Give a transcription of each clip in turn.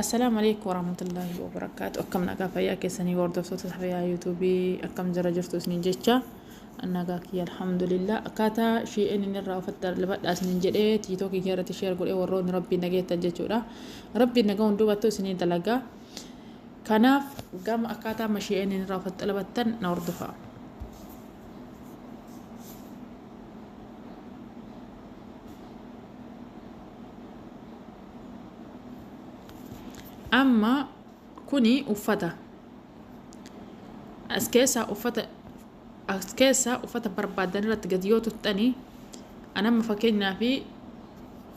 Assalaamu alaikum warahmatullaahi wabarakaatu akkam nagaa fayyaa keessanii hordoftoota fayyaa yuutuubii akkam jira jirtu isiniin jecha nagaa kiyya alhamdulillah akkaataa shi'een inni irraa ofitti darbadhaa isiniin jedhee tiitookii kee irratti sheer godhee warroonni rabbiin nageettan jechuudha rabbiin nagaa hundumattuu isinii dalagaa kanaaf gama akkaataa amma shi'een inni irraa ofitti darbatan na hordofaa. amma kuni uffata as keessaa uffata as keessaa uffata barbaadan irratti gad yoo tuttani an amma fakkeenyaa fi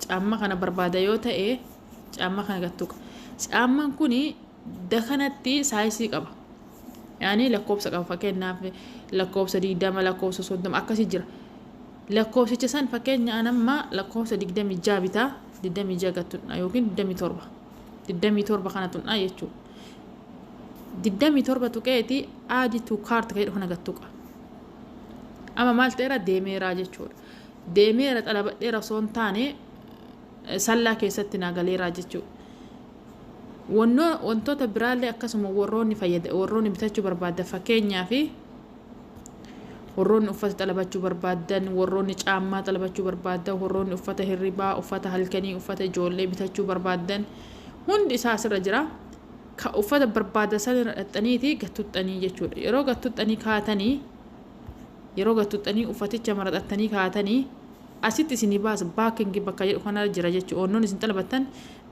caamma kana barbaada yoo ta'e caamma kana gad tuqa caamman kuni da kanatti saayisii qaba yaani lakkoofsa qaba fakkeenyaaf lakkoofsa 20 lakkoofsa 30 akkasii jira Lakkoofsicha san fakkeenya an amma lakkoofsa 26 bitaa 26 gad tunnaa yookiin 27 27 kana tunnaa jechuu 27 tuqeeti add to cart ka jedhu kana gad tuqa amma maal ta'eera deemeeraa jechuudha deemeera xalabadheera osoo hin taane sallaa keessatti naa galeeraa jechuu wantoota biraallee akkasuma warroonni fayyada warroonni bitachuu barbaadda fakkeenyaa fi Warroonni uffata xalabachuu barbaaddan, warroonni caammaa xalabachuu barbaaddan, warroonni uffata hirribaa, uffata halkanii, uffata ijoollee bitachuu barbaaddan hundi isaa asirra jira. Ka uffata barbaaddan san irra dhaxxaniiti gattuxxanii jechuudha. Yeroo gattuxxanii kaatanii yeroo gattuxxanii uffaticha maraxattanii kaatanii asitti isinii baasa baakingi bakka jedhu kanarra jira jechuudha. Wannoonni isin xalabattan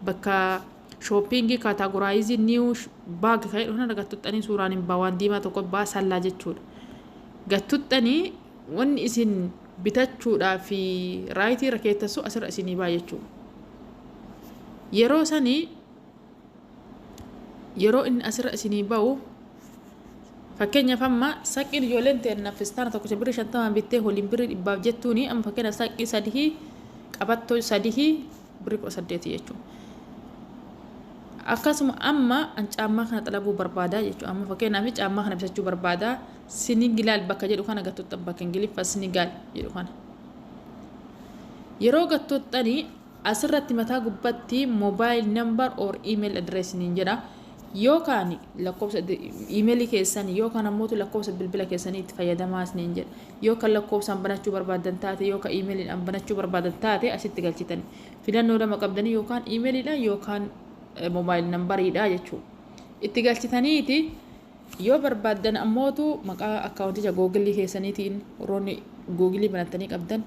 bakka Shopping categorize new bag kan jedhu kanarra gattuxxanii suuraan hin ba'a waan diimaa tokko ba'a sallaa jechuudha. Gattuxxanii wanni isin bitachuudhaa fi raayitii irra keettassu asirra isinii ba'a jechuudha. Yeroo sanii yeroo inni asirra isinii ba'u fakkeenyaaf amma saqqiin ijoolleen teenna fistaana tokkicha birrii shantamaan bittee waliin birrii dhibbaaf jettuuni amma fakkeenyaaf saqqii sadihii qabattoo sadihii birri kudha saddeeti jechuun akkasuma amma an caammaa kana xalabuu barbaadaa jechuudha amma fakkeenyaaf caammaa kana bitachuu barbaadaa sinigilaal bakka jedhu kana gattotta bakka ingiliffa sinigaal jedhu kana yeroo gattottanii asirratti mataa gubbatti mobile number or email address niin jedha yookaan lakkoofsa email keessan yookaan ammoo lakkoofsa bilbila keessanii itti fayyadamaa isiniin jedha Yoo kan lakkoofsaan banachuu barbaaddan taate yoo kan email dhaan banachuu barbaadan taate asitti galchitan filannoo lama qabdanii yookaan email dhaan yookaan mobile number dhaa jechuu itti galchitaniiti yoo barbaaddan ammootu maqaa akkaawunticha googilii keessaniitiin warroonni googilii banattanii qabdan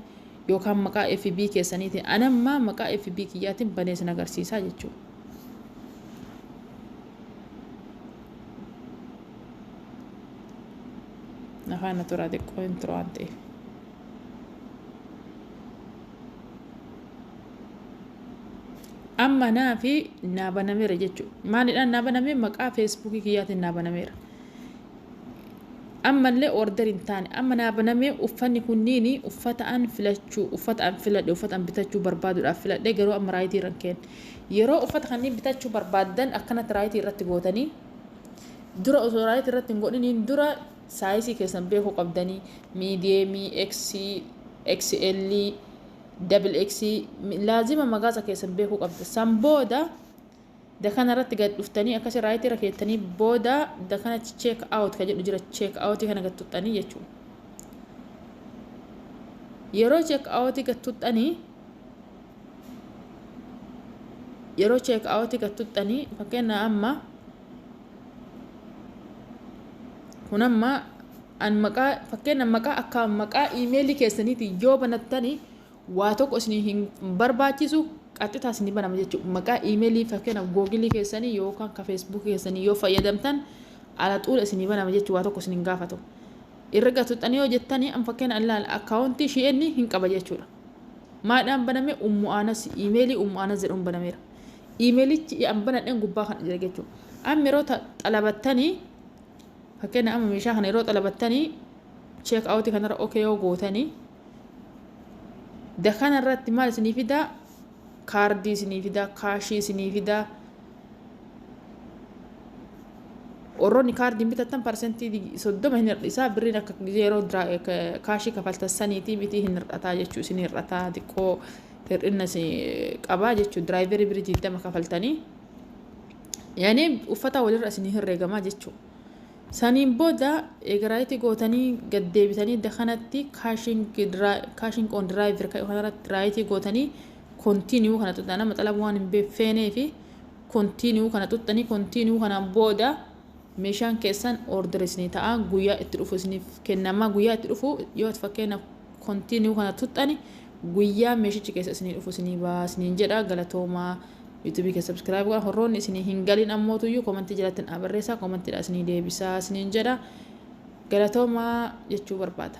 yookaan maqaa FB keessaniitiin anamma maqaa FB kiyyaatiin banee sin agarsiisaa jechuudha. Nafaana turaa xiqqoo hin turu waan ta'eef. Amma naa fi naa banameera jechuudha. Maalidhaan naa banamee maqaa feesbuukii kiyyaatiin naa banameera. Ammallee order hin taane. Amma naa banamee uffanni kunniin uffata an filachuu uffata an filadhe uffata an bitachuu barbaaduudhaaf filadhe garuu amma raayitii irra hin keenne. Yeroo uffata kanneen bitachuu barbaaddan akkanatti raayitii irratti gootanii Dura osoo raayit irratti hin godhiniin dura saayisii keessan beekuu qabdanii miidiyeemii, X, XL, double X laazima magaasa keessan beekuu qabda. San booda dakana irratti gad dhuftanii akkasii raayit irra keettanii booda dakana check out ka jedhu jira check out kana gad tuxxanii jechuudha. Yeroo check out gad tuxxanii yeroo cheek aawutii gad tuttanii fakkeenyaa amma kun amma an maqaa fakkeenya maqaa akka maqaa iimeelii keessaniitiin yoo banattanii waa tokko isin hin barbaachisu qaxxitaa isin banama jechuudha maqaa iimeelii fakkeenya googilii keessanii yookaan ka feesbuukii keessanii yoo fayyadamtan ala xuula isin banama jechuudha waa tokko isin hin gaafatu irra gatuxxanii yoo jettanii an fakkeenya akkaawuntii shi'eenni hin qaba jechuudha Maadhaan baname ummu aanasi iimeelii ummu aanas jedhamu banameera. Iimeelichi an banadhen gubbaa kana jira jechuudha. Amma yeroo xalabattanii fakkeenya amma meeshaa kana yeroo xalabattanii cheek awutii kanarra ok yoo gootanii da kanarratti maal isinii fidaa kaardii isinii fidaa kaashii isinii fidaa warroonni kaardiin bitattan parsentii soddoma hin hir'isaa birriin akka yeroo kaashii kafaltan saniitii mitii hin hir'ataa jechuu isin hir'ataa xiqqoo hir'inna qabaa jechuu diraayiverii birrii digdama kafaltanii yaani uffata walirra isin herreegamaa jechuu Saniin booda eega raayiti gootanii gad deebitanii da kanatti caching on drive kanarratti raayiti gootanii continue kana xuxxana maxalaba waan hin beekfeenee fi continue kana xuxxanii continue kanaan booda meeshaan keessan order isinii ta'a guyyaa itti dhufu isiniif kennama guyyaa itti dhufu yoo fakkeenyaaf continue kana tuxxani guyyaa meeshichi keessa isinii dhufu isinii baa isiniin jedha galatoomaa YouTube keessa subscribe godha horroonni isinii hin galin ammootu iyyuu komantii jalatti naa barreessaa komantiidha isinii deebisaa isiniin jedha galatoomaa jechuu barbaada.